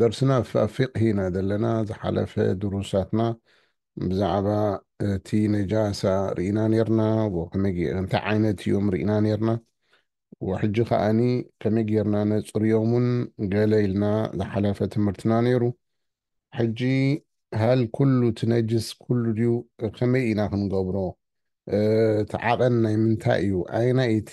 ደርስና ኣብ ፊቅሂ ኢና ዘለና ዝሓለፈ ድሩሳትና ብዛዕባ እቲ ነጃሳ ርኢና ኔርና ወከመይ ጌ እንታይ ዓይነት ኢዮም ርኢና ኔርና ወሕጂ ከኣኒ ከመይ ጌርና ነጽርዮም ውን ገለ ኢልና ዝሓለፈ ትምህርትና ኔሩ ሕጂ ሀል ኩሉ እቲ ነጅስ ኩሉ ድዩ ከመይ ኢና ክንገብሮ እቲ ዓቐን ናይ ምንታይ ኢዩ ኣየናይ እቲ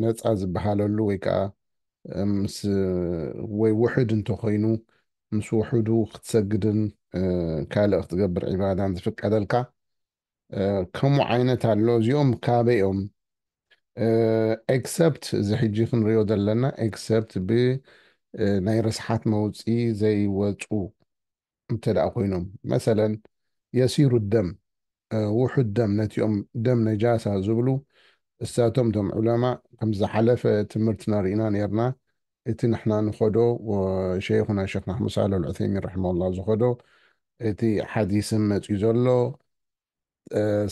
ነፃ ዝበሃለሉ ወይ ከዓ ምስ ወይ ውሕድ እንተኾይኑ ምስ ውሕዱ ክትሰግድን ካልእ ክትገብር ዒባዳን ዝፍቀደልካ ከምኡ ዓይነት ኣሎ እዚኦም ካበይ እዮም ኤክሰፕት እዚ ሕጂ ክንሪኦ ዘለና ኤክሰፕት ብናይ ርስሓት መውፅኢ ዘይወፁ እንተደኣ ኮይኖም መሰለን የሲሩ ደም ውሑድ ደም ነቲኦም ደም ነጃሳ ዝብሉ እሳቶም እቶም ዑለማእ ከም ዝሓለፈ ትምርትና ሪኢና ነርና እቲ ንሕና ንኸዶ ሸይኹና ሸኽ ናሕሙድ ሳልሕ ኣልዑሰይሚን ረሕመሁላህ ዝኸዶ እቲ ሓዲስን መጽዩ ዘሎ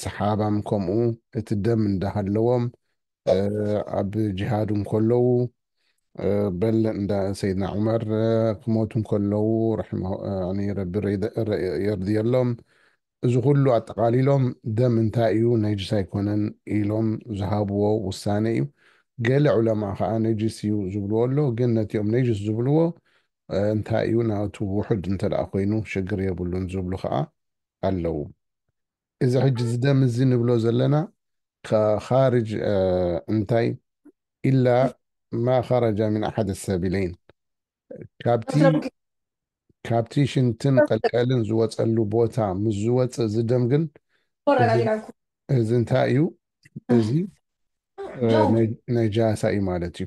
ሰሓባም ከምኡ እቲ ደም እንዳሃለዎም ኣብ ጅሃድ እንከለዉ በል እንዳ ሰይድና ዑመር ክሞቱ እንከለዉ ረቢ የርድየሎም እዚ ኩሉ ኣጠቓሊሎም ደም እንታይ እዩ ነጅስ ኣይኮነን ኢሎም ዝሃብዎ ውሳነ እዩ ገለ ዑለማ ከዓ ነጅስ እዩ ዝብልዎ ኣሎ ግን ነቲኦም ነጅስ ዝብልዎ እንታይ እዩ ናቱ ውሑድ እንተ ኮይኑ ሽግር የብሉን ዝብሉ ከዓ ኣለዉ። እዚ ሕጂ እዚ ደም እዚ ንብሎ ዘለና ኻርጅ እንታይ ኢላ ማ ኸረጃ ሚን ኣሓደ ሰቢለይን ካብቲ ካብቲ ሽንትን ቐልቀልን ዝወጸሉ ቦታ ምስ ዝወጽእ እዚ ደም ግን እዚ እንታይ እዩ እዚ ነጃሳ እዩ ማለት እዩ።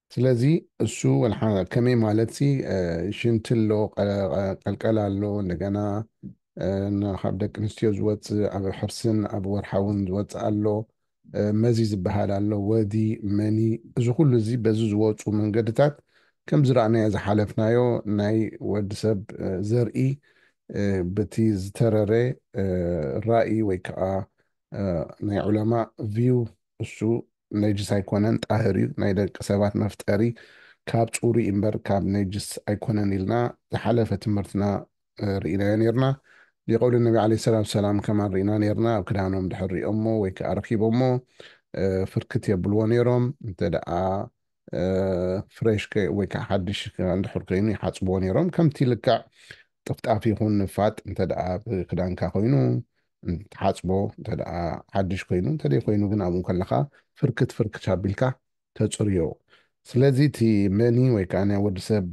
ስለዚ እሱ ወልሓ ከመይ ማለትሲ ሽንቲ ኣሎ ቀልቀል ኣሎ እንደገና ካብ ደቂ ኣንስትዮ ዝወፅእ ኣብ ሕርስን ኣብ ወርሓውን ዝወፅእ ኣሎ መዚ ዝበሃል ኣሎ ወዲ መኒ እዚ ኩሉ እዚ በዚ ዝወፁ መንገድታት ከም ዝረኣናዮ ዝሓለፍናዮ ናይ ወዲ ሰብ ዘርኢ በቲ ዝተረረ ራእይ ወይ ከዓ ናይ ዑለማ ቪው እሱ ነጅስ ኣይኮነን ጣህር እዩ ናይ ደቂ ሰባት መፍጠሪ ካብ ጹሩይ እምበር ካብ ነጅስ ኣይኮነን ኢልና ዝሓለፈ ትምህርትና ርኢናዮ ኔርና ሊቀውል ነቢ ዓለይሂ ሰላቱ ወሰላም ከማን ርኢና ኔርና ኣብ ክዳኖም ድሕር ሪኦሞ ወይ ከኣ ረኪቦሞ ፍርክት የብልዎ ኔሮም እንተ ደኣ ፍሬሽ ከ ወይ ከዓ ሓድሽ እንድሕር ኮይኑ ይሓፅብዎ ነይሮም ከምቲ ልክዕ ጥፍጣፍ ይኹን ንፋጥ እንተ ደኣ ክዳንካ ኮይኑ ትሓፅቦ እንተ ደኣ ሓድሽ ኮይኑ እንተደይ ኮይኑ ግን ኣብኡ ከለኻ ፍርክት ፍርክት ኣቢልካ ተፅርዮ ስለዚ እቲ መኒ ወይ ከዓ ናይ ወዲ ሰብ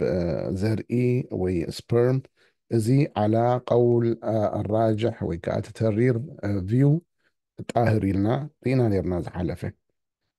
ዘርኢ ወይ ስፐርም እዚ ዓላ ቀውል ኣራጅሕ ወይ ከዓ እቲ ተሪር ቪው ጣህር ኢልና ርኢና ነርና ዝሓለፈ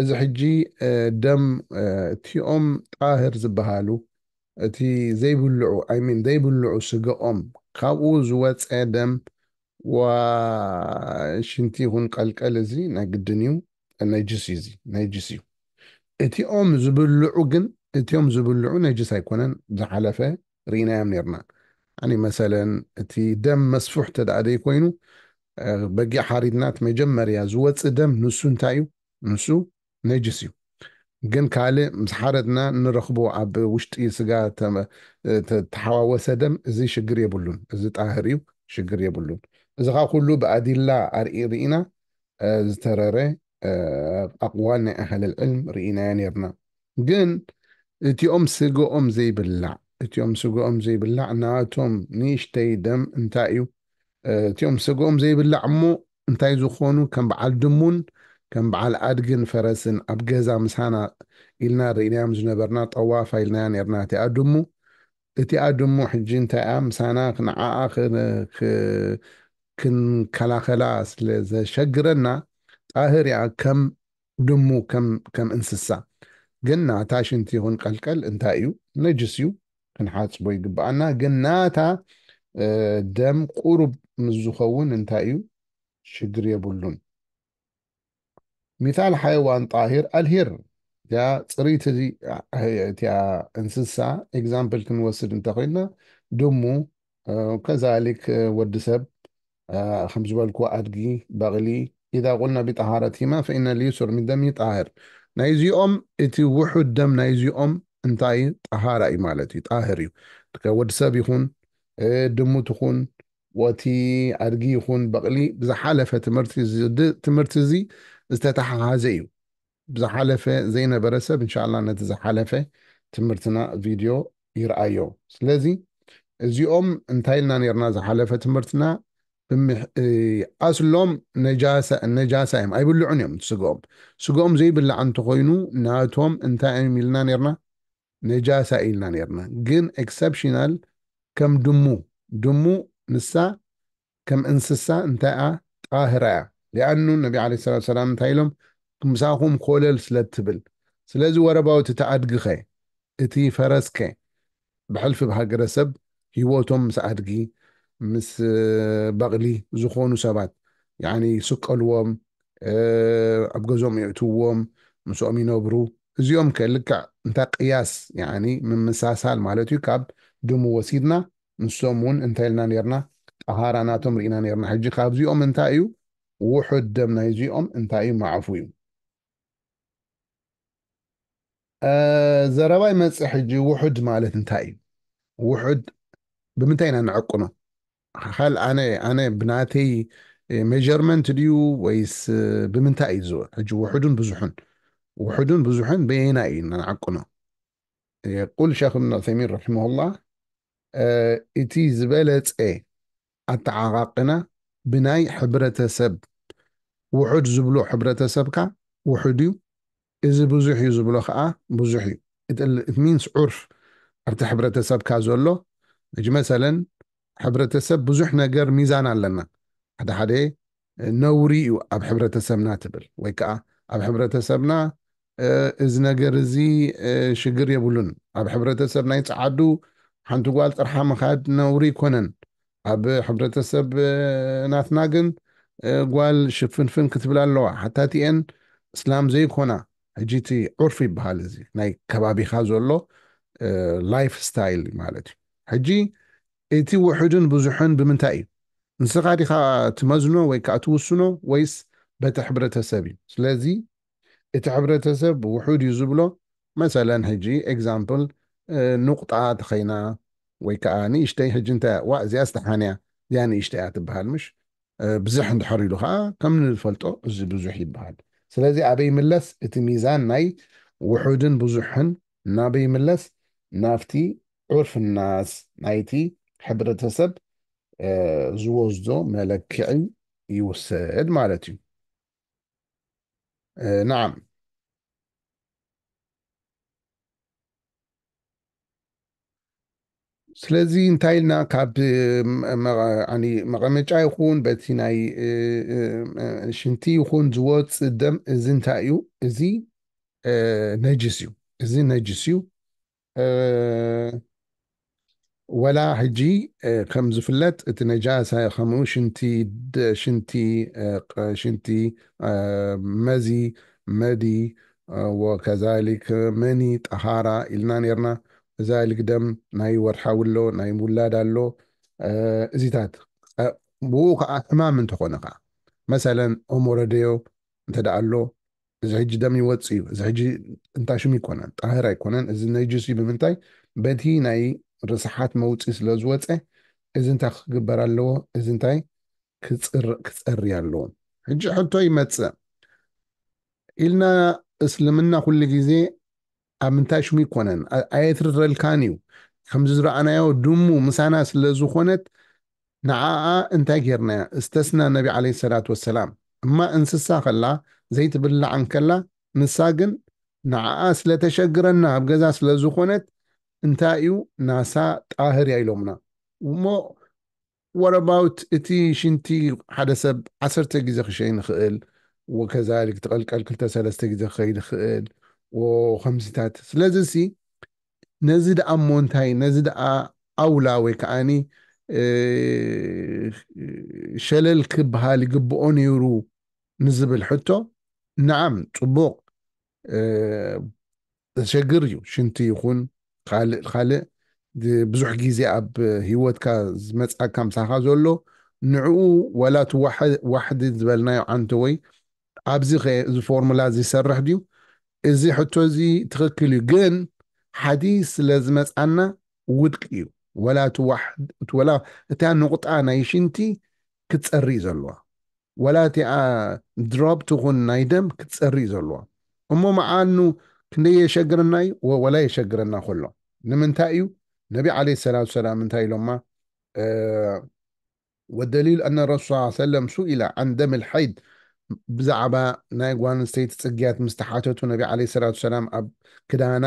እዚ ሕጂ ደም እቲኦም ጣህር ዝብሃሉ እቲ ዘይብልዑ ኣይ ሚን ዘይብልዑ ስግኦም ካብኡ ዝወጸ ደም ዋእ ሽንቲ ይኹን ቀልቀል እዚ ናይ ግድን እዩ ነጅስ እዩ እዚ ነጅስ እዩ እቲኦም ዝብልዑ ግን እቲኦም ዝብልዑ ነጅስ ኣይኮነን ዝሓለፈ ሪኢናዮም ኔርና ያኒ መሰለን እቲ ደም መስፉሕ ተደኣ ደይኮይኑ በጊዕ ሓሪድና እቲ መጀመርያ ዝወጽእ ደም ንሱ እንታይ እዩ ንሱ ነጅስ እዩ ግን ካልእ ምስ ሓረድና እንረኽቦ ኣብ ውሽጢ ስጋ ተሓዋወሰ ደም እዚ ሽግር የብሉን እዚ ጣህር እዩ ሽግር የብሉን እዚ ኸኣ ኩሉ ብኣዲላ ኣርኢ ርኢና ዝተረረ ኣቕዋል ናይ ኣህል ልዕልም ርኢናዮ ኔርና። ግን እቲኦም ስገኦም ዘይብላዕ እቲኦም ስገኦም ዘይብላዕ ናቶም ንእሽተይ ደም እንታይ እዩ እቲኦም ስገኦም ዘይብላዕ እሞ እንታይ ዝኾኑ ከም በዓል ድሙን ከም በዓል ኣድግን ፈረስን ኣብ ገዛ ምሳና ኢልና ርኢናዮም ዝነበርና ጠዋፋ ኢልናያ ኔርና እቲኣ ድሙ እቲኣ ድሙ ሕጂ እንታይ'ያ ምሳና ንዓኣ ክንከላኸላ ስለ ዘሸግረና ጣህር'ያ ከም ድሙ ከም እንስሳ ግን ናታ ሽንቲ ይኹን ቀልቀል እንታይ'ዩ ነጅስ'ዩ ክንሓጽቦ ይግብኣና ግን ናታ ደም ቁሩብ ምስ ዝኸውን እንታይ'ዩ ሽግር የብሉን። ሚታል ሓይዋን ጣሂር ኣልሂር እቲኣ ፅርይቲ እቲኣ እንስሳ ኤግዛምፕል ክንወስድ እንተኮይንና ድሙ ከዛሊክ ወዲ ሰብ ከም ዝበልኩ ኣድጊ በቕሊ ኢዛ ቁልና ቢጣሃረቲማ ፈኢነ ልዩሱር ሚን ደሚ ጣህር ናይ እዚኦም እቲ ውሑድ ደም ናይ እዚኦም እንታይ ጣሃራ እዩ ማለት እዩ ጣህር እዩ ወዲ ሰብ ይኹን ድሙ ትኹን ወቲ ኣድጊ ይኹን በቕሊ ብዝሓለፈ ትምህርቲ ዝዲ ትምህርቲ እዚ ዝተተሓሓዘ እዩ ብዝሓለፈ ዘይነበረ ሰብ እንሻላ ነቲ ዝሓለፈ ትምህርትና ቪድዮ ይርኣዮ ስለዚ እዚኦም እንታይ ኢልና ነርና ዝሓለፈ ትምህርትና ኣስሎም ነጃሳ እዮም ኣይብልዑን እዮም ስግኦም ስግኦም ዘይብላዕ እንተኾይኑ ናቶም እንታይ እዮም ኢልና ነርና ነጃሳ ኢልና ኔርና ግን ኤክሰፕሽናል ከም ድሙ ድሙ ንሳ ከም እንስሳ እንታይ'ያ ጣህራ'ያ ሊኣኑ ነቢ ዓለይሂ ሰላቱ ወሰላም እንታይ ኢሎም ምሳኹም ኮለል ስለ ትብል ስለዚ ወረባውት እቲ ኣድጊ'ኸ እቲ ፈረስ'ከ ብሕልፊ ብሃገረሰብ ሂወቶም ምስ ኣድጊ ምስ በቕሊ ዝኾኑ ሰባት ያኒ ይስቀልዎም ኣብ ገዝኦም የእትውዎም ምስኦም ይነብሩ እዚኦም ከ ልክዕ እንታ ቅያስ ያኒ ምምሳሳል ማለት እዩ ካብ ድሙ ወሲድና ንሶም ውን እንታይ ኢልና ኔርና ጠሃራ ናቶም ርኢና ኔርና ሕጂ ካብዚኦም እንታይ እዩ ውሑድ ደም ናይዚኦም እንታይ እዩ ማዕፉ እዩ ዘረባ ይመፅእ ሕጂ ውሑድ ማለት እንታይ እዩ ውሑድ ብምንታይ ኢና ንዕቅኖ ኻል ኣነ ኣነ ብናተይ ሜጀርመንት ድዩ ወይስ ብምንታይ እዩ ዝውዕ ሕጂ ውሑዱን ብዙሑን ውሑዱን ብዙሑን በየና እዩ ንዓቅኖ የቁል ሸክ እብን ዑሰይሚን ረሒመሁላ እቲ ዝበለፀ ኣተዓቃቅና ብናይ ሕብረተ ሰብ ውሑድ ዝብሉ ሕብረተ ሰብካ ውሑድ ዩ እዚ ብዙሕ ዩ ዝብሎ ከኣ ብዙሕ ዩ it means ዑርፍ ኣብቲ ሕብረተ ሰብካ ዘሎ መጅመሰለን ሕብረተ ሰብ ብዙሕ ነገር ሚዛን ኣለና ሓደ ሓደ ነውሪ እዩ ኣብ ሕብረተሰብና ትብል ወይ ከኣ ኣብ ሕብረተሰብና እዚ ነገር እዚ ሽግር የብሉን ኣብ ሕብረተሰብ ናይ ጸዓዱ ሓንቲ ጓል ጥርሓ ምኻድ ነውሪ ኣይኮነን ኣብ ሕብረተሰብ ናትና ግን ጓል ሽፍንፍን ክትብል ኣለዋ ሓታቲኤን እስላም ዘይኮና ሕጂ እቲ ዑርፊ ይበሃል እዚ ናይ ከባቢኻ ዘሎ ላይፍ ስታይል ማለት እዩ ሕጂ እቲ ውሑድን ብዙሕን ብምንታይ እዩ? ንስኻ ዲኻ ትመዝኖ ወይ ከኣ ትውስኖ ወይስ በቲ ሕብረተሰብ እዩ? ስለዚ እቲ ሕብረተሰብ ውሑድ እዩ ዝብሎ መሰለን ሕጂ ኤግዛምፕል ኑቕጣ ተኸይና ወይ ከኣ ንእሽተይ ሕጂ እንታይ ዋእ እዚኣስ ደሓን እያ እዚኣ ንእሽተይ እያ ትብሃል ምሽ ብዝሕ እንድሕር ኢሉ ከኣ ከም ንፈልጦ እዚ ብዙሕ ይብሃል ስለዚ ኣበይ ይምለስ እቲ ሚዛን ናይ ውሑድን ብዙሕን ናበይ ይምለስ ናብቲ ዑርፍና ናይቲ ሕብረተሰብ ዝወስዶ መለክዒ ይውሰድ ማለት እዩ። ናዓም ስለዚ እንታይ ኢልና ካብ መቐመጫ ይኹን በቲ ናይ ሽንቲ ይኹን ዝወፅእ ደም እዚ እንታይ እዩ እዚ ነጅስ እዩ እዚ ነጅስ እዩ ወላ ሕጂ ከም ዝፍለጥ እቲ ነጃሳ ከምኡ ሽንቲ ሽንቲ ሽንቲ መዚ መዲ ወከዛሊክ መኒ ጠሃራ ኢልና ኔርና እዛሊክ ደም ናይ ወርሓዊ ኣሎ ናይ ውላድ ኣሎ እዚታት ብኡ ከዓ ሕማም እንተኾነ ከዓ መሰለን ኦሞረደዮ እንተደኣ ኣሎ እዚ ሕጂ ደም ይወፅእ እዩ እዚ ሕጂ እንታይ ሽም ይኮነን ጣህር ኣይኮነን እዚ ነጅስ እዩ ብምንታይ በቲ ናይ ርስሓት መውፅኢ ስለ ዝወፀ እዚ እንታይ ክግበር ኣለዎ እዚ እንታይ ክፀሪ ኣለዎ ሕጂ ሕቶ ይመፅእ ኢልና እስልምና ኩሉ ግዜ ኣብ ምንታይ ሽሙ ይኮነን ኣየትርረልካን እዩ ከምዚ ዝረኣናዮ ድሙ ምሳና ስለ ዝኾነት ንዓኣ እንታይ ጌርናያ እስተስና ነቢ ዓለይሂ ሰላት ወሰላም እማ እንስሳ ከላ ዘይትብላዕ እንከላ ንሳ ግን ንዓኣ ስለ ተሸግረና ኣብ ገዛ ስለ ዝኾነት እንታይ እዩ ናሳ ጣህር እያ ኢሎምና እሞ What about እቲ ሽንቲ ሓደ ሰብ ዓሰርተ ግዜ ክሸይን ይኽእል ወከዛሊክ ትቐልቀል ክልተ ሰለስተ ግዜ ክኸይድ ይኽእል ወከምዚታት ስለዚሲ ነዚ ደኣ እሞ እንታይ ነዚ ደኣ ኣውላ ወይ ከኣኒ ሸለል ክብሃል ይግብኦ ነይሩ ንዝብል ሕቶ ነዓም ጽቡቕ ዘሸግር እዩ ሽንቲ ይኹን ኻልእ ኻልእ ብዙሕ ግዜ ኣብ ሂወትካ ዝመጽኣካ ምሳኻ ዘሎ ንዕኡ ዋላ እቲ ዋሕዲ ዝበልናዮ ዓንተወይ ኣብዚ ከ እዚ ፎርሙላ እዚ ይሰርሕ ድዩ እዚ ሕቶ እዚ ትኽክል እዩ ግን ሓዲስ ስለ ዝመጽኣና ውድቂ እዩ ዋላ እቲ ዋላ እታ ኑቕጣ ናይ ሽንቲ ክትጸሪ እዩ ዘሎዋ ወላ እቲኣ ድሮፕ ትኹን ናይ ደም ክትጸሪ እዩ ዘሎዋ እሞ መዓል ን ክንደይ የሸግረና እዩ ወላ የሸግረና ከሎ ንምንታይ እዩ ነቢ ዓለይሂ ሰላቱ ወሰላም እንታይ ኢሎማ ወደሊል ኣነ ረሱል ሰለላሁ ዐለይሂ ወሰለም ሱኢለ ዐን ደሚል ሐይድ ብዛዕባ ናይ ጓል ኣንስተይቲ ጽግያት ምስ ተሓተቱ ነቢ ዓለይሂ ሰላቱ ወሰላም ኣብ ክዳና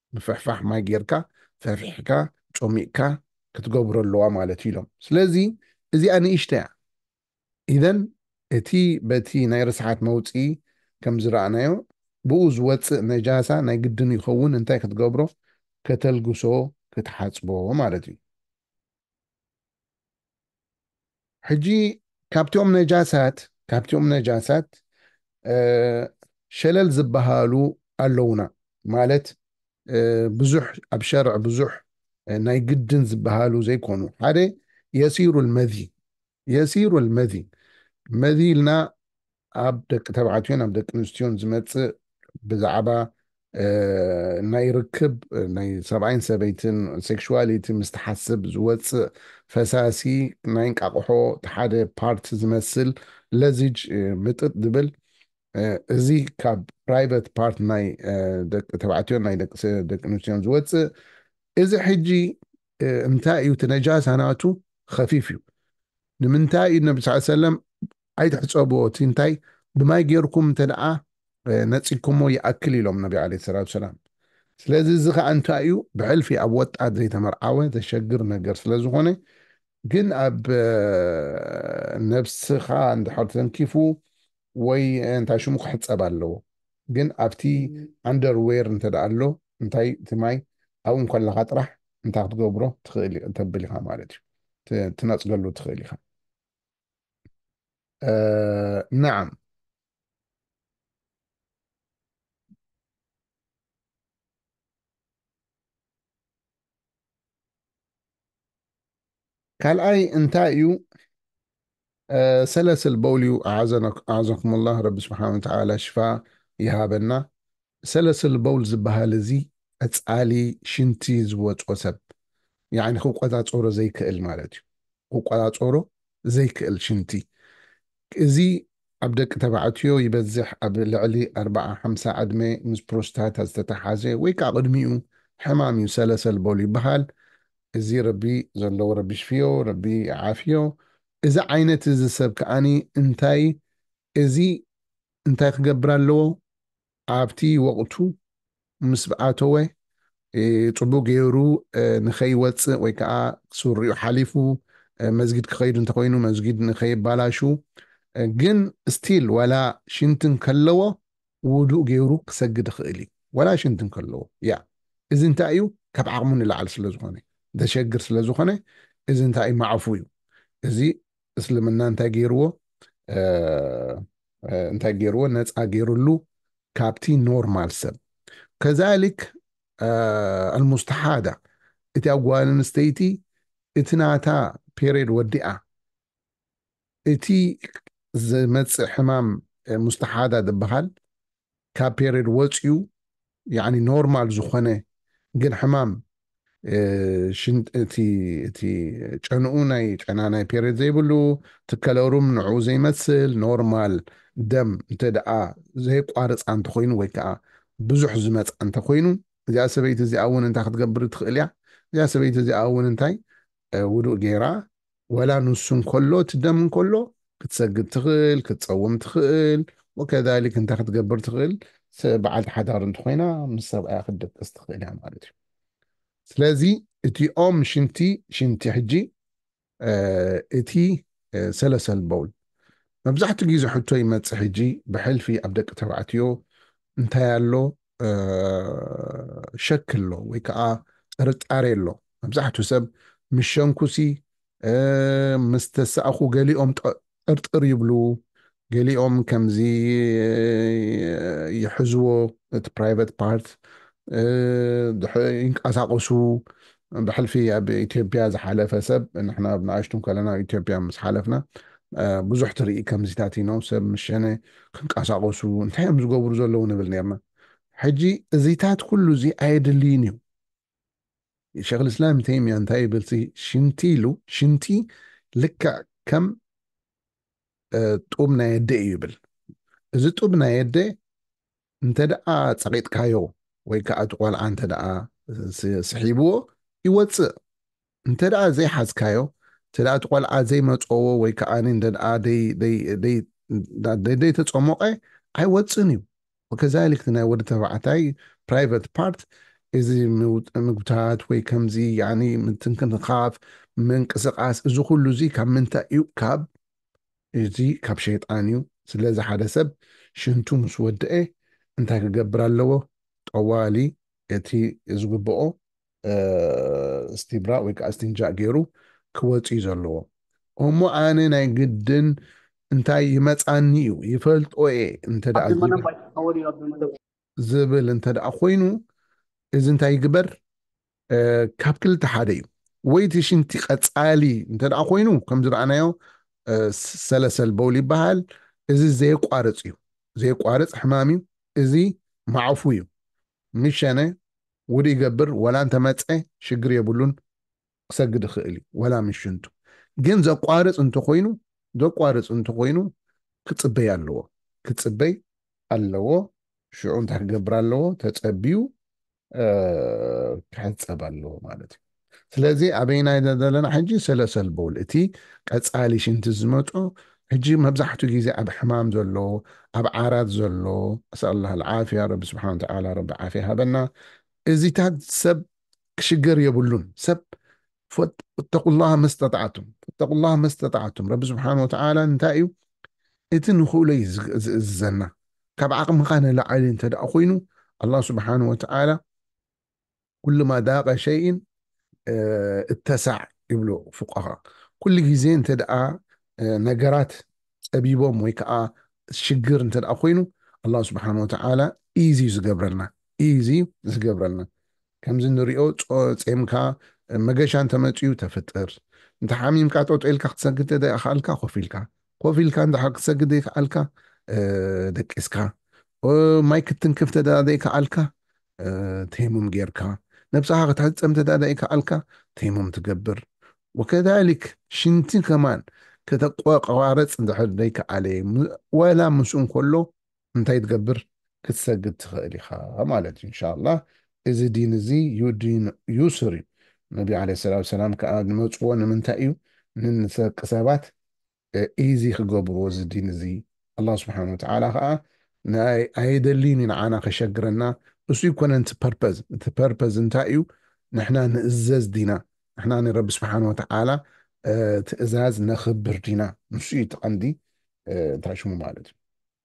ምፍሕፋሕ ማይ ጌርካ ፈፊሕካ ጮሚቕካ ክትገብሮ ኣለዋ ማለት እዩ ኢሎም ስለዚ እዚኣ ንእሽተያ ኢዘን እቲ በቲ ናይ ርስሓት መውፅኢ ከም ዝረኣናዮ ብኡ ዝወፅእ ነጃሳ ናይ ግድን ይኸውን እንታይ ክትገብሮ ከተልግሶ ክትሓፅቦ ማለት እዩ። ሕጂ ካብቲኦም ነጃሳት ካብቲኦም ነጃሳት ሸለል ዝበሃሉ ኣለዉና ማለት ብዙሕ ኣብ ሸርዕ ብዙሕ ናይ ግድን ዝበሃሉ ዘይኮኑ ሓደ የሲሩ ልመዚ የሲሩ ኣልመዚ መዚ ኢልና ኣብ ደቂ ተባዕትዮን ኣብ ደቂ ኣንስትዮን ዝመጽእ ብዛዕባ ናይ ርክብ ናይ ሰብኣይን ሰበይትን ሴክሽዋሊቲ ምስ ትሓስብ ዝወፅእ ፈሳሲ ናይ እንቃቕሖ ሓደ ፓርት ዝመስል ለዚጅ ምጥጥ ዝብል እዚ ካብ ፕራይቨት ፓርት ናይ ደቂ ተባዕትዮን ናይ ደቂ ኣንስትዮን ዝወፅእ እዚ ሕጂ እንታይ እዩ እቲ ነጃሳ ናቱ ኸፊፍ እዩ ንምንታይ እዩ ነቢ ስ ሰለም ኣይትሕፀብዎ እቲ እንታይ ብማይ ጌርኩም እንተ ደኣ ነፂግኩሞ ይኣክል ኢሎም ነቢ ዓለይሂ ሰላቱ ወሰላም ስለዚ እዚ ኸዓ እንታይ እዩ ብሕልፊ ኣብ ወጣት ዘይተመርዓወ ዘሸግር ነገር ስለ ዝኾነ ግን ኣብ ነብስኻ እንድሕር ተንኪፉ ወይ እንታይ ሽሙ ክሕፀብ ኣለዎ ግን ኣብቲ ኣንደር ዌር እንተድኣ ኣሎ እንታይ እቲ ማይ ኣብኡ እንከለኻ ጥራሕ እንታይ ክትገብሮ ትኽእል ተብል ኢኻ ማለት እዩ ትነጽገሉ ትኽእል ኢኻ ነዓም ካልኣይ እንታይ እዩ ሰለስል በውል እዩ ኣዓዘኩም ላ ረቢ ስብሓን ወተላ ሽፋ ይሃበና ሰለስል በውል ዝበሃል እዚ ቀፃሊ ሽንቲ ዝወፆ ሰብ ያኒ ክቆፃፀሮ ዘይክእል ማለት እዩ ክቆፃፀሮ ዘይክእል ሽንቲ እዚ ኣብ ደቂ ተባዕትዮ ይበዝሕ፣ ኣብ ልዕሊ ኣርብዓ ሓምሳ ዕድመ ምስ ፕሮስታታ ዝተተሓሓዘ ወይ ከኣ ቅድሚኡ ሕማም እዩ ሰለሰል በሉ ይበሃል እዚ ረቢ ዘለዎ ረቢ ይሽፍዮ ረቢ ይዓፍዮ እዚ ዓይነት እዚ ሰብ ከኣ እንታይ እዚ እንታይ ክገብር ኣለዎ ኣብቲ ወቕቱ ምስ ኣተወ ጽቡቕ ገይሩ ንኸይወጽእ ወይ ከኣ ሱሪኡ ሓሊፉ መስጊድ ክኸይድ እንተኾይኑ መስጊድ ንኸየባላሹ ግን ስቲል ዋላ ሽንቲ እንከለዎ ውዱእ ገይሩ ክሰግድ ይኽእል እዩ ዋላ ሽንቲ እንከለዎ ያ እዚ እንታይ እዩ ካብ ዓቕሙ ንላዕሊ ስለዝኾነ ዘሸግር ስለዝኾነ እዚ እንታይ እዩ ማዕፉ እዩ እዚ እስልምና እንታይ ገይርዎ እንታይ ገይርዎ ነፃ ገይርሉ ካብቲ ኖርማል ሰብ ከዛሊክ ኣልሙስተሓዳ እቲ ጓል ኣንስተይቲ እቲ ናታ ፔሬድ ወዲኣ እቲ ዝመፅእ ሕማም ሙስተሓዳ ዝበሃል ካብ ፔሬድ ወጽዩ ያኒ ኖርማል ዝኾነ ግን ሕማም እቲ ጨንኡ ናይ ጨና ናይ ፔሬድ ዘይብሉ እቲ ከለሩም ንዕኡ ዘይመስል ኖርማል ደም እንተ ደኣ ዘየቋርጻ እንተኾይኑ ወይ ከዓ ብዙሕ ዝመጽኣ እንተኾይኑ እዚኣ ሰበይቲ እዚኣ እውን እንታይ ክትገብር ትኽእል እያ እዚኣ ሰበይቲ እዚኣ እውን እንታይ ውዱእ ገይራ ወላ ንሱ እንከሎ እቲ ደም እንከሎ ክትሰግድ ትኽእል ክትፀውም ትኽእል ወከዛሊክ እንታይ ክትገብር ትኽእል በዓልቲ ሓዳር እንተኾይና ምስ ሰብኣያ ክትደቅስ ትኽእል እያ ማለት እዩ ስለዚ እቲኦም ሽንቲ ሽንቲ ሕጂ እቲ ሰለሰል በውል መብዛሕትኡ ግዜ ሕቶ ይመፅእ ሕጂ ብሕልፊ ኣብ ደቂ ተባዕትዮ እንታይ ኣሎ ሸክ ኣሎ ወይ ከዓ ጥርጣሬ ኣሎ መብዛሕትኡ ሰብ ምስ ሸንኩሲ ምስ ተሳእኹ ገሊኦም ጥርጥር ይብሉ ገሊኦም ከምዚ ይሕዝዎ እቲ ፕራይቨት ፓርት ይንቀሳቀሱ ብሕልፊ ኣብ ኢትዮጵያ ዝሓለፈ ሰብ ንሕና ኣብ ንኣሽቱ ከለና ኣብ ኢትዮጵያ ምስ ሓለፍና ብዙሕ ትርኢ ከምዚታት ኢኖ ሰብ ምስ ሸነ ክንቀሳቐሱ እንታይ እዮም ዝገብሩ ዘለዉ ንብል ነርና ሕጂ እዚታት ኩሉ እዚ ኣየድልይን እዩ ሸክ ልእስላም ተይምያ እንታይ ይብልሲ ሽንቲ ኢሉ ሽንቲ ልክዕ ከም ጡብ ናይ ኣደ እዩ ይብል እዚ ጡብ ናይ ኣደ እንተደኣ ጸቒጥካዮ ወይ ከኣ እቲ ቆልዓ እንተደኣ ስሒብዎ ይወጽእ እንተደኣ ዘይሓዝካዮ እንተደኣ እቲ ቆልዓ ዘይመጸዎ ወይ ከኣ እንተደኣ ደይተጸሞቐ ኣይወጽእን እዩ ወከዛሊክ እቲ ናይ ወዲ ተባዕታይ ፕራይቨት ፓርት እዚ ምግብታት ወይ ከምዚ ያኒ ምትንክንኻፍ ምንቅስቓስ እዚ ኩሉ እዚ ካብ ምንታይ እዩ ካብ እዚ ካብ ሸይጣን እዩ ስለዚ ሓደ ሰብ ሽንቱ ምስ ወደኤ እንታይ ክገብር ኣለዎ ጠዋሊ እቲ ዝግብኦ እስቲብራእ ወይ ከኣ እስቲንጃእ ጌሩ ክወጽእ እዩ ዘለዎ እሞ ኣነ ናይ ግድን እንታይ ይመጻኒ እዩ ይፈልጦ እየ እንተ ኣብዚ ደኣ መደብ ኣይትጻወት እዩ ኣብዚ መደብ ዝብል እንተደኣ ኮይኑ እዚ እንታይ ይግበር ካብ ክልተ ሓደ እዩ ወይ እቲ ሽንቲ ቀፃሊ እንተደኣ ኮይኑ ከም ዝረኣናዮ ሰለሰል በውል ይበሃል እዚ ዘየቋርፅ እዩ ዘየቋርፅ ሕማም እዩ እዚ ማዕፉ እዩ ምሸነ ውድ ይገብር ወላ እንተመፀ ሽግር የብሉን ክሰግድ ይኽእል እዩ ዋላ ምስ ሽንቱ ግን ዘቋርፅ እንተኾይኑ ዘቋርፅ እንተኾይኑ ክፅበይ ኣለዎ ክፅበይ ኣለዎ ሽዑ እንታይ ክገብር ኣለዎ ተፀቢዩ ክሕፀብ ኣለዎ ማለት እዩ ስለዚ ኣበይና ኢና ዘለና ሕጂ ሰለሰል ቦል እቲ ቀፃሊ ሽንቲ ዝመፆ ሕጂ መብዛሕትኡ ግዜ ኣብ ሕማም ዘሎ ኣብ ዓራት ዘሎ ኣስኣላ ዓፍያ ረቢ ስብሓን ተዓላ ረቢ ዓፍያ ሃበና እዚታት ሰብ ክሽገር የብሉን ሰብ ፈተቁላሃ መስተጣዓቱም ፈተቁላሃ መስተጣዓቱም ረቢ ስብሓን ወተዓላ እንታይ እዩ እቲ ንኽእሎ እዩ ዝእዝዘና ካብ ዓቕምኻ ንላዓሊ እንተ ደኣ ኮይኑ ኣላህ ስብሓን ወተዓላ ኩሉ ማ ዳቀ ሸይን እተሳዕ ይብሉ ፉቃሃ ኩሉ ግዜ እንተ ደኣ ነገራት ጸቢቦም ወይ ከኣ ሽግር እንተ ደኣ ኮይኑ ኣላሁ ስብሓነ ወተዓላ ኢዚ እዩ ዝገብረልና ኢዚ እዩ ዝገብረልና ከምዚ ንሪኦ ጾምካ መገሻ እንተ መጺኡ ተፍጥር እንተ ሓሚምካ ጠጦ ኢልካ ክትሰግድ እንተ ዘይከኣልካ ኮፍ ኢልካ ኮፍ ኢልካ እንተ ክትሰግድ ዘይከኣልካ ደቂስካ ማይ ክትትንክፍ እንተ ዘይከኣልካ ተይሙም ጌርካ ነብስኻ ክትሕጸብ እንተ ዘይከኣልካ ተይሙም ትገብር ወከዛሊክ ሽንቲ ከማን ከተቆራርጽ እንድሕር ዘይከኣለ ወላ ምስኡ እንከሎ እንታይ ትገብር ክትሰግድ ትኽእል ኢኻ ማለት እዩ ኢንሻላህ እዚ ዲን እዚ ዩዲን ዩስር እዩ ነቢ ዓለይሂ ሰላቱ ወሰላም ከኣ ዝመጽዎ ንምንታይ እዩ ንንሰቂ ሰባት ኢዚ ክገብርዎ እዚ ዲን እዚ ኣላህ ስብሓን ወተዓላ ከኣ ኣየደልይን ኢዩ ንዓና ከሸግረና እሱ ኣይኮነን እቲ ፐርፐዝ እቲ ፐርፐዝ እንታይ ኢዩ ንሕና ንእዘዝ ዲና ንሕና ንረቢ ስብሓን ወተዓላ ትእዛዝ ነኽብር ዲና ንሱ ኢዩ እቲ ቀንዲ እንታይ ሽሙ ማለት ኢዩ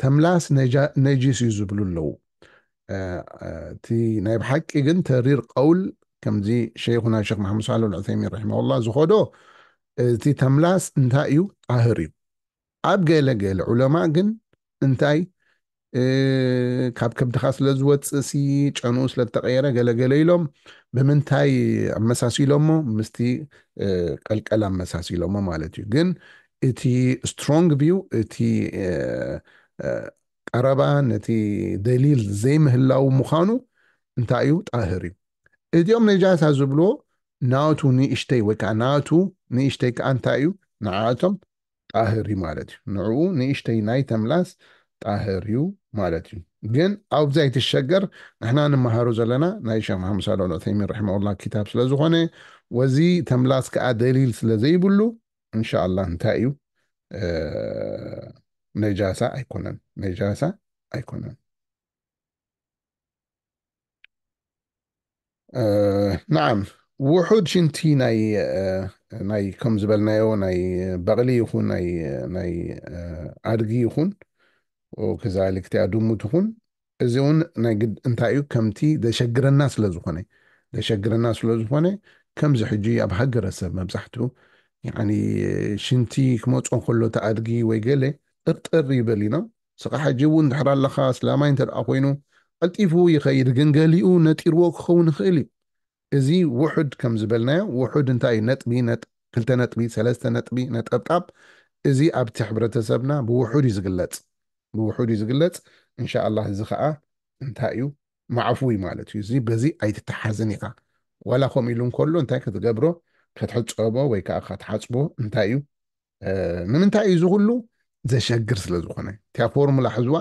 ተምላስ ነጂስ እዩ ዝብሉ ኣለዉ እቲ ናይ ብሓቂ ግን ተሪር ቀውል ከምዚ ሸይኹና ሸክ መሓመድ ሳልሕ ልዑተይሚን ረሒመሁላ ዝኸዶ እቲ ተምላስ እንታይ እዩ ጣህር እዩ ኣብ ገለ ገለ ዑለማ ግን እንታይ ካብ ከብድኻ ስለ ዝወፅእ ሲ ጨንኡ ስለ ዝተቐየረ ገለገለ ኢሎም ብምንታይ ኣመሳሲሎሞ ምስቲ ቀልቀል ኣመሳሲሎሞ ማለት እዩ ግን እቲ ስትሮንግ ቪው እቲ ቀረባ ነቲ ደሊል ዘይምህላው ምዃኑ እንታይ እዩ ጣህር እዩ እዚኦም ነጃሳ ዝብልዎ ናቱ ንእሽተይ ወይ ከዓ ናቱ ንእሽተይ ከዓ እንታይ እዩ ንዓቶም ጣህር እዩ ማለት እዩ ንዑኡ ንእሽተይ ናይ ተምላስ ጣህር እዩ ማለት እዩ ግን ኣብዚ ኣይትሸገር ንሕና ንመሃሮ ዘለና ናይ ሸክ መሓመድ ሳልሕ ኣልዑተይሚን ረሒመሁላህ ክታብ ስለ ዝኾነ ወዚ ተምላስ ከኣ ደሊል ስለ ዘይብሉ እንሻኣላህ እንታይ እዩ ነጃሳ ኣይኮነን ነጃሳ ኣይኮነን ናዓም ውሑድ ሽንቲ ናይ ናይ ከም ዝበልናዮ ናይ በቕሊ ይኹን ናይ ናይ ኣድጊ ይኹን ከዛሊ ክቲያ ድሙ ትኹን እዚ እውን ናይ ግድ እንታይ እዩ ከምቲ ዘሸግረና ስለ ዝኾነ ዘሸግረና ስለ ዝኾነ ከምዚ ሕጂ ኣብ ሃገረሰብ መብዛሕትኡ ሽንቲ ክመፅኦ ከሎ ተኣድጊ ወይ ገለ ጥርጥር ይበል ኢና ንስኻ ሕጂ እውን እንድሕር ኣለኻ ኣስላማይ እንተድኣ ኮይኑ ቀልጢፉ ይኸይድ ግን ገሊኡ ነጢርዎ ክኸውን ይኽእል እዩ እዚ ውሑድ ከም ዝበልናዮ ውሑድ እንታይ እዩ ነጥቢ ነጥ ክልተ ነጥቢ ሰለስተ ነጥቢ ነጠብጣብ እዚ ኣብቲ ሕብረተሰብና ብውሑድ እዩ ዝግለጽ ብውሑድ እዩ ዝግለጽ እንሻኣላህ እዚ ኸኣ እንታይ እዩ ማዕፉ እዩ ማለት እዩ እዚ በዚ ኣይትተሓዝን ኢኻ ዋላ ከምኡ ኢሉ እንከሎ እንታይ ክትገብሮ ከትሕጸቦ ወይ ከኣ ከትሓጽቦ እንታይ እዩ ንምንታይ እዩ ዝኩሉ ዘሸግር ስለ ዝኾነ እቲያ ፎርሙላ ሕዝዋ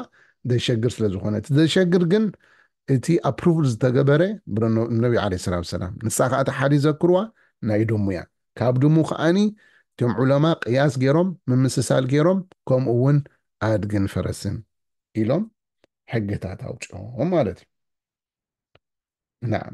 ዘሸግር ስለ ዝኾነ እቲ ዘሸግር ግን እቲ ኣፕሩቭል ዝተገበረ ነቢ ዓለ ሰላት ሰላም ንሳ ከዓ እቲ ሓዲ ዘክርዋ ናይ ድሙ እያ ካብ ድሙ ከዓኒ እቶም ዑለማ ቅያስ ገይሮም ምምስሳል ገይሮም ከምኡ እውን ኣድግን ፈረስን ኢሎም ሕግታት ኣውፅኦም ማለት እዩ ናም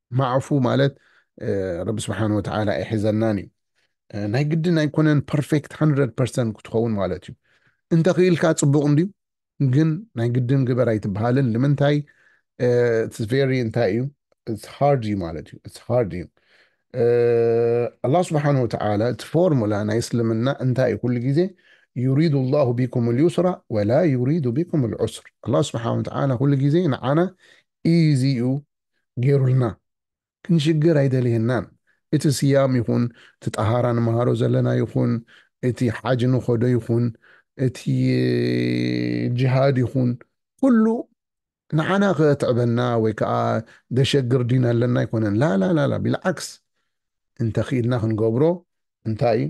ማዕፉ ማለት ረቢ ስብሓን ወተዓላ ኣይሕዘናን እዩ ናይ ግድን ኣይኮነን ፐርፌክት 100 ፐርሰንት ክትኸውን ማለት እዩ እንተኽኢልካ ፅቡቕ እንድዩ ግን ናይ ግድን ግበር ኣይትበሃልን ንምንታይ ቨሪ እንታይ እዩ ሃርድ እዩ ማለት እዩ ሃርድ እዩ ኣላህ ስብሓን ወተዓላ እቲ ፎርሙላ ናይ እስልምና እንታይ እዩ ኩሉ ግዜ ዩሪዱ ላሁ ቢኩም ልዩስራ ወላ ዩሪዱ ቢኩም ልዑስር ኣላህ ስብሓን ወተዓላ ኩሉ ግዜ ንዓና ኢዚ እዩ ጌሩልና ክንሽገር ኣይደልየናን እቲ ስያም ይኹን እቲ ጣሃራ ንማሃሮ ዘለና ይኹን እቲ ሓጅ ንኸዶ ይኹን እቲ ጅሃድ ይኹን ኩሉ ንዓና ከትዕበና ወይ ከኣ ደሸግር ዲን ኣለና ኣይኮነን ላላላላ ቢልዓክስ እንተ ኪኢልና ክንገብሮ እንታይ እዩ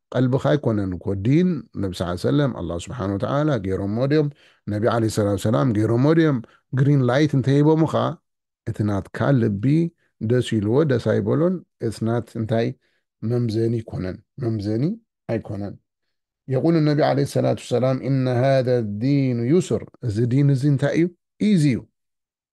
ቀልብካ ኣይኮነን እኮ ዲን ነቢ ሰለላሁ ዓለይሂ ወሰለም ኣላህ ሱብሓነሁ ወተዓላ ገይሮሞ ድዮም ነቢ ዓለይሂ ሰላቱ ወሰላም ገይሮሞ ድዮም ግሪን ላይት እንተሂቦምኻ እቲ ናትካ ልቢ ደስ ኢልዎ ደስ ኣይበሎን it's not እንታይ መምዘኒ ኣይኮነን መምዘኒ ኣይኮነን የቁሉ ነቢ ዓለይሂ ሰላቱ ወሰላም ኢነ ሃዛ ዲኑ ዩስር እዚ ዲን እዚ እንታይ እዩ ኢዚ እዩ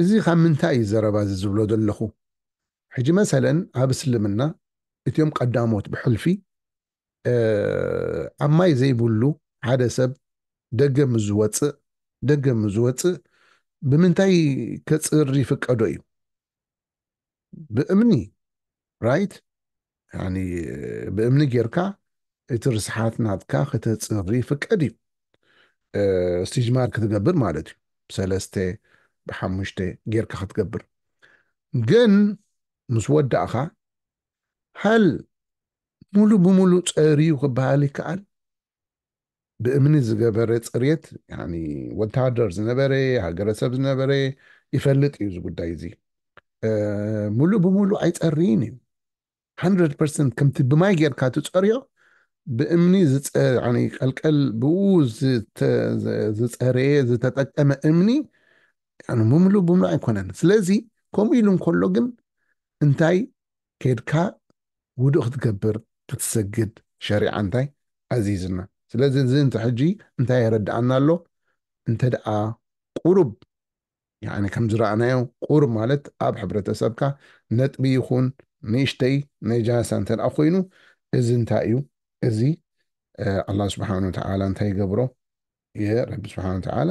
እዚ ካብ ምንታይ እዩ ዘረባ እዚ ዝብሎ ዘለኹ ሕጂ መሰለን ኣብ እስልምና እትም ቀዳሞት ብሕልፊ ኣብ ማይ ዘይብሉ ሓደ ሰብ ደገ ምስ ዝወጽእ ደገ ምስ ዝወጽእ ብምንታይ ከጽሪ ይፍቀዶ እዩ ብእምኒ ራይት ያኒ ብእምኒ ጌርካ እቲ ርስሓት ናትካ ክተጽሪ ይፍቀድ እዩ ስቲጅማር ክትገብር ማለት እዩ ብሰለስተ ብሓሙሽተ ጌርካ ክትገብር ግን ምስ ወዳእኻ ሀል ሙሉ ብሙሉ ጸርዩ ክበሃል ይከኣል ብእምኒ ዝገበረ ፅርየት ያኒ ወታደር ዝነበረ ሃገረሰብ ዝነበረ ይፈልጥ እዩ እዚ ጉዳይ እዚ ሙሉእ ብሙሉእ ኣይፀርይን እዩ 100 ፐርሰንት ከምቲ ብማይ ጌርካ ትፀርዮ ብእምኒ ቀልቀል ብኡ ዝፀረየ ዝተጠቀመ እምኒ ሙሉእ ብሙሉእ ኣይኮነን ስለዚ ከምኡ ኢሉ እንከሎ ግን እንታይ ከድካ ውዱእ ክትገብር ክትሰግድ ሸሪዓ እንታይ ኣዚዝና ስለዚ እዚ እንተ ሕጂ እንታይ የረድኣና ኣሎ እንተድኣ ቁሩብ ያኒ ከም ዝረኣናዮ ቁሩብ ማለት ኣብ ሕብረተሰብካ ነጥቢ ይኹን ንእሽተይ ነጃሳ እንተ ኮይኑ እዚ እንታይ እዩ እዚ ኣላህ ስብሓን ወተዓላ እንታይ ይገብሮ እየ ረቢ ስብሓን ወተዓላ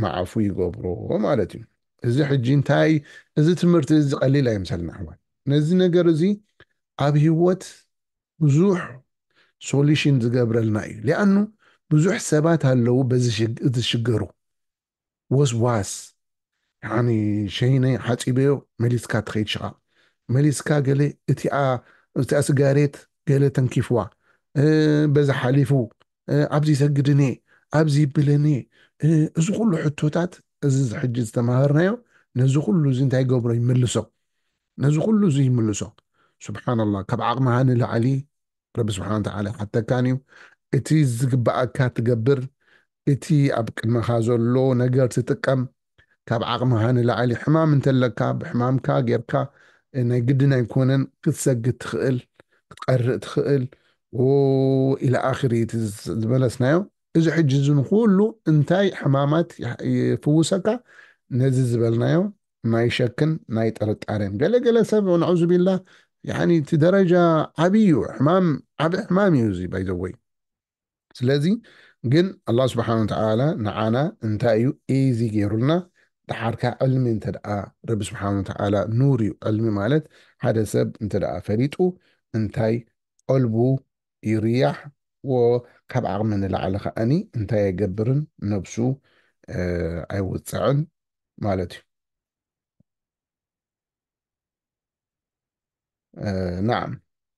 ማዕፉ ይገብሮ ማለት እዩ እዚ ሕጂ እንታይ እዚ ትምህርቲ እዚ ቀሊል ኣይምሰልና ኣሕዋት ነዚ ነገር እዚ ኣብ ህይወት ብዙሕ ሶሉሽን ዝገብረልና እዩ ሊኣኑ ብዙሕ ሰባት ኣለዉ በዚ ዝሽገሩ ወስዋስ ያኒ ሸይነይ ሓፂበዮ መሊስካ ትኸይድ ሽቓቕ መሊስካ ገለ እቲኣ እቲኣ ስጋሬት ገለ ተንኪፍዋ በዛ ሓሊፉ ኣብዚ ሰግድን'የ፣ ኣብዚ ይብልን'የ፣ እዚ ኩሉ ሕቶታት እዚ ሕጂ ዝተማሃርናዮ ነዚ ኩሉ እዚ እንታይ ይገብሮ ይምልሶ፣ ነዚ ኩሉ እዚ ይምልሶ። ሱብሓነላህ ካብ ዓቕምኻ ንላዕሊ ረቢ ስብሓነ ወተዓላ ይሓተካን'ዩ። እቲ ዝግብኣካ ትገብር፣ እቲ ኣብ ቅድመኻ ዘሎ ነገር ትጥቀም። ካብ ዓቕምኻ ንላዕሊ ሕማም እንተለካ ብሕማምካ ጌርካ ናይ ግድን ኣይኮነን ክትሰግድ ትኽእል ክትቐርእ ትኽእል ወኢላ ኣኽሪ እቲ ዝበለስናዮ እዚ ሕጂ እዚ ንኹሉ እንታይ ሕማማት ይፍውሰካ ነዚ ዝበልናዮ ናይ ሸክን ናይ ጥርጣሬን ገለ ገለ ሰብ ነዑዙቢላ ያኒ እቲ ደረጃ ዓብይ እዩ ሕማም ዓቢ ሕማም እዩ እዚ ባይዘወይ ስለዚ ግን ኣላህ ስብሓነሁ ወተዓላ ንዓና እንታይ እዩ ኢዚ ገይሩልና ደሓርካ ዕልሚ እንተድኣ ረቢ ስብሓነሁ ወተዓላ ኑር እዩ ዕልሚ ማለት ሓደ ሰብ እንተድኣ ፈሊጡ እንታይ ቀልቡ ይርያሕ ወካብ ዓቕሚ ንላዕሊ ከኣኒ እንታይ ኣይገብርን ነብሱ ኣይውጽዕን ማለት እዩ ናዓም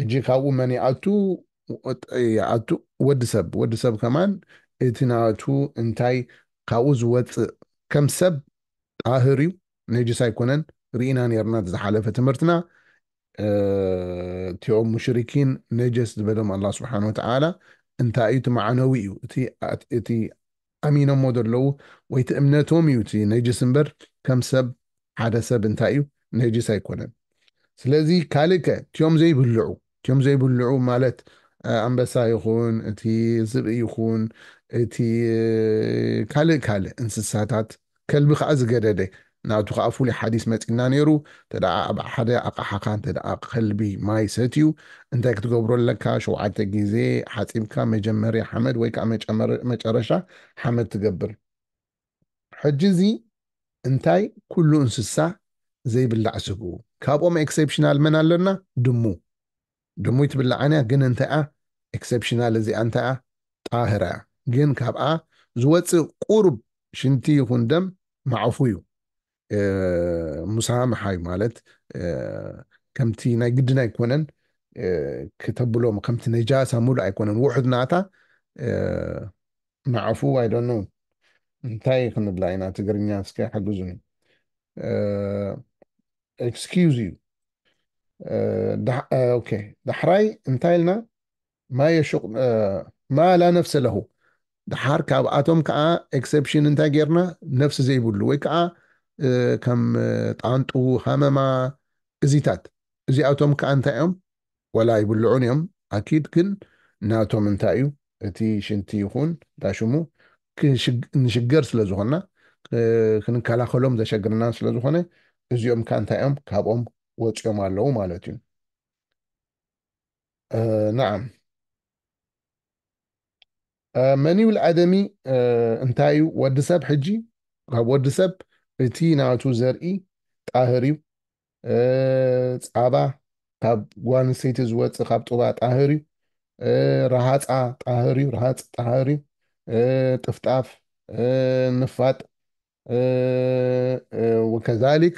ሕጂ ካብኡ መን ይኣቱ ይኣቱ ወዲ ሰብ ወዲ ሰብ ከማን እቲ ናቱ እንታይ ካብኡ ዝወጽእ ከም ሰብ ጣህር እዩ ነጅስ ኣይኮነን ርኢና ኔርና እቲ ዝሓለፈ ትምህርትና እቲኦም ሙሽሪኪን ነጀስ ዝበሎም ኣላህ ስብሓን ወተዓላ እንታይ እዩ እቲ ማዕነዊ እዩ እቲ ኣሚኖሞ ዘለዉ ወይ እቲ እምነቶም እዩ እቲ ነጅስ እምበር ከም ሰብ ሓደ ሰብ እንታይ እዩ ነጅስ ኣይኮነን ስለዚ ካልእ ከ እትዮም ዘይብልዑ እትዮም ዘይብልዑ ማለት ኣንበሳ ይኹን እቲ ዝብኢ ይኹን እቲ ካልእ ካልእ እንስሳታት ከልቢ ከኣ ዝገደደ ናቱ ከኣ ፍሉይ ሓዲስ መጺና ኔሩ ተደኣ ኣብ ሓደ ኣቃሓካ እንተደኣ ከልቢ ማይ ሰትዩ እንታይ ክትገብሮ ኣለካ ሸውዓተ ግዜ ሓጺብካ መጀመርያ ሓመድ ወይ ከኣ መጨረሻ ሓመድ ትገብር ሕጂ እዚ እንታይ ኩሉ እንስሳ ዘይብላዕ ስግኡ ካብኦም ኤክሴፕሽናል መን ኣለና ድሙ ድሙይ ትብላዓንያ ግን እንታይኣ ኤክሰፕሽናል እዚኣ እንታይኣ ጣህራያ ግን ካብኣ ዝወጽእ ቁሩብ ሽንቲ ይኹን ደም ማዕኹዩ ሙሳ ምሓዩ ማለት ከምቲ ናይ ግድን ኣይኮነን ክተብሎም ከምቲ ነጃሳ ሙሉእ ኣይኮነን ውሑድ ናታ ማዕኹ ኣይ ዶንት ኖው እንታይ ክንብላ ኢና ትግርኛ እስከ ሓግዙኒ። ኤክስኪውዝ እዩ ኦኬ ዳሕራይ እንታይ ኢልና ማ ላ ነፍሰ ለሁ ድሓር ካብኣቶም ከዓ ኤክሰፕሽን እንታይ ጌርና ነፍሲ ዘይብሉ ወይ ከዓ ከም ጣንጡ ሃመማ እዚታት እዚኣቶም ከዓ እንታይ እዮም ወላ ኣይብልዑን እዮም ኣኪድ ግን ናቶም እንታይ እዩ እቲ ሽንቲ ይኹን ዳሽሙ ንሽገር ስለ ዝኾንና ክንከላኸሎም ዘሸግርናን ስለ ዝኾነ እዚኦም ከ እንታይ እዮም ካብኦም ወፂኦም ኣለዉ ማለት እዩ ናዓም መን ይብል ኣደሚ እንታይ እዩ ወዲ ሰብ ሕጂ ካብ ወዲ ሰብ እቲ ናቱ ዘርኢ ጣህር እዩ ፃባ ካብ ጓል ኣንስተይቲ ዝወፅእ ካብ ጡባ ጣህር እዩ ረሃፃ ጣህር እዩ ረሃፅ ጣህር እዩ ጥፍጣፍ ንፋጥ ወከዛሊክ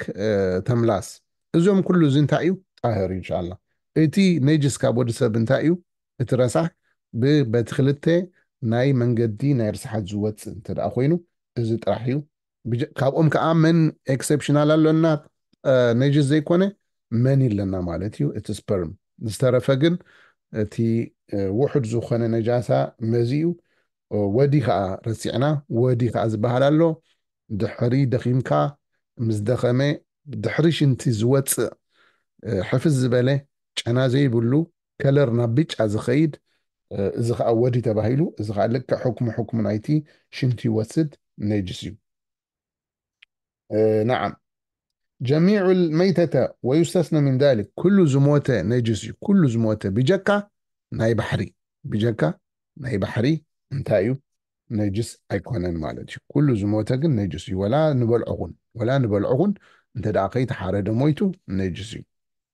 ተምላስ እዞም ኩሉ እዚ እንታይ እዩ ጣህር እዩ እንሻላ እቲ ነጅስ ካብ ወዲ ሰብ እንታይ እዩ እቲ ረሳሕ ብበቲ ክልተ ናይ መንገዲ ናይ ርስሓት ዝወፅእ እንተ ኮይኑ እዚ ጥራሕ እዩ ካብኦም ከኣ መን ኤክሰፕሽናል ኣሎና ነጅስ ዘይኮነ መን ኣለና ማለት እዩ እቲ ስፐርም ዝተረፈ ግን እቲ ውሑድ ዝኾነ ነጃሳ መዚ እዩ ወዲ ከኣ ረሲዕና ወዲ ከኣ ዝበሃል ኣሎ ድሕሪ ደኺምካ ምስ ደኸመ ድሕሪ ሽንቲ ዝወጽእ ሕፍስ ዝበለ ጨና ዘይብሉ ከለር ናብ ብጫ ዝኸይድ እዚ ከኣ ወዲ ተባሂሉ እዚ ከኣ ልክዕ ሕክሙ ሕክሙ ናይቲ ሽንቲ ይወስድ ነጅስ እዩ ነዓም ጀሚዑ መይተተ ወዩስተስነ ምን ዛሊክ ኩሉ ዝሞተ ነጅስ እዩ ኩሉ ዝሞተ ብጀካ ናይ ባሕሪ ብጀካ ናይ ባሕሪ እንታይ እዩ ነጅስ ኣይኮነን ማለት እዩ ኩሉ ዝሞተ ግን ነጅስ እዩ ወላ ንበልዖኹን ወላ ንበልዖኹን እንተ ደኣ ከይተሓረደ ሞይቱ ነጅስ እዩ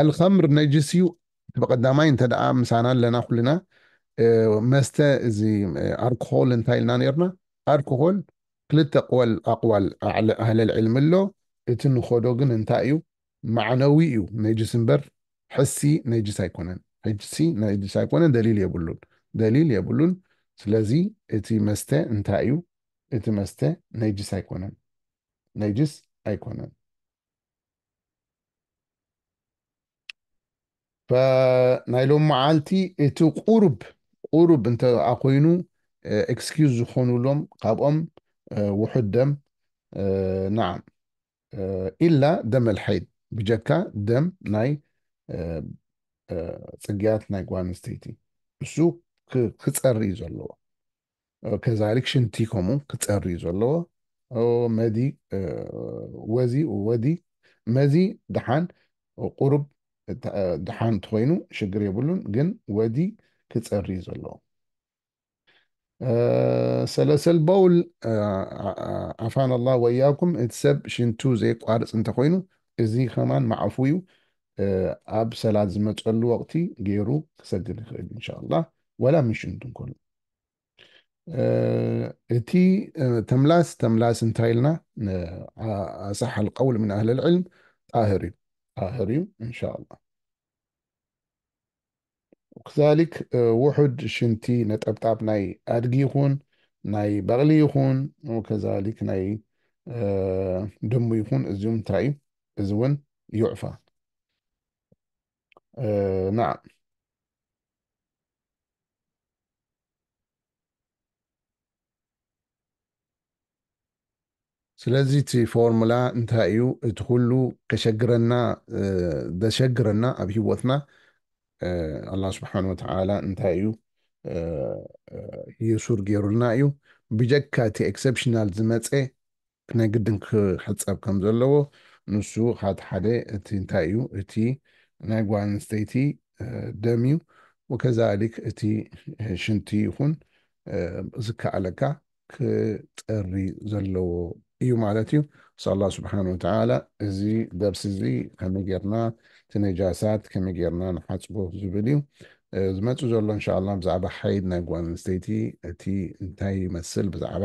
ኣልኸምር ነጅስ እዩ እቲ በቐዳማይ እንተ ደኣ ምሳና ኣለና ኩልና መስተ እዚ ኣርኮሆል እንታይ ኢልና ነርና ኣርኮሆል ክልተ ኣቕዋል ኣቕዋል ኣህለል ዕልሚ ኣሎ እቲ ንኸዶ ግን እንታይ እዩ ማዕነዊ እዩ ነጅስ እምበር ሕሲ ነጅስ ኣይኮነን ሕሲ ነጅስ ኣይኮነን ደሊል የብሉን ደሊል የብሉን ስለዚ እቲ መስተ እንታይ እዩ እቲ መስተ ነጅስ ኣይኮነን ነጅስ ኣይኮነን ናይ ሎም መዓልቲ እቲ ቁሩብ ቁሩብ እንተ ኮይኑ ኤክስኪዩዝ ዝኾኑሎም ካብኦም ውሑድ ደም ናዓም ኢላ ደም ኣልሓይድ ብጀካ ደም ናይ ጽግያት ናይ ጓል ኣንስተይቲ እሱ ክጸሪ እዩ ዘለዎ ከዛሊክ ሽንቲ ከምኡ ክጸሪ እዩ ዘለዎ መዲ ወዚ ወዲ መዚ ድሓን ቁሩብ ድሓን እንተኾይኑ ሽግር የብሉን ግን ወዲ ክጸሪ እዩ ዘለዎ ሰለሰል በውል ዓፋን ኣላ ወያኩም እቲ ሰብ ሽንቱ ዘይቋርፅ እንተኮይኑ እዚ ከማን ማዕፉ እዩ ኣብ ሰላት ዝመፀሉ ወቅቲ ገይሩ ክሰግድ ይኽእል እንሻላ ወላ ምሽንቱ እንከሉ እቲ ተምላስ ተምላስ እንታይ ኢልና ኣሳሕ ልቀውል ምን ኣህል ልዕልም ጣህር እዩ ጣህር እዩ እንሻ ላ ክዛሊክ ውሑድ ሽንቲ ነጠብጣብ ናይ ኣድጊ ይኹን ናይ በቕሊ ይኹን ከዛሊክ ናይ ድሙ ይኹን እዚም እንታይ እዩ እዚ እውን ይዕፋ ናዓ ስለዚ እቲ ፎርሙላ እንታይ እዩ? እቲ ኩሉ ከሸግረና ዘሸግረና ኣብ ህይወትና ኣላ ስብሓን ወተዓላ እንታይ እዩ የሱር ገይሩልና እዩ። ብጀካ እቲ ኤክሰፕሽናል ዝመፀ ናይ ግድን ክሕጸብ ከም ዘለዎ ንሱ ኻቲ ሓደ እቲ እንታይ እዩ እቲ ናይ ጓል ኣንስተይቲ ደም እዩ ወከዛሊክ እቲ ሽንቲ ይኹን ዝከኣለካ ክጸሪ ዘለዎ እዩ ማለት እዩ ስ ኣላህ ስብሓን ወተዓላ እዚ ደርሲ እዚ ከመይ ጌርና እቲ ነጃሳት ከመይ ጌርና ንሓጽቦ ዝብል እዩ ዝመጽእ ዘሎ እንሻ ኣላህ ብዛዕባ ሓይድ ናይ ጓል ኣንስተይቲ እቲ እንታይ ይመስል ብዛዕባ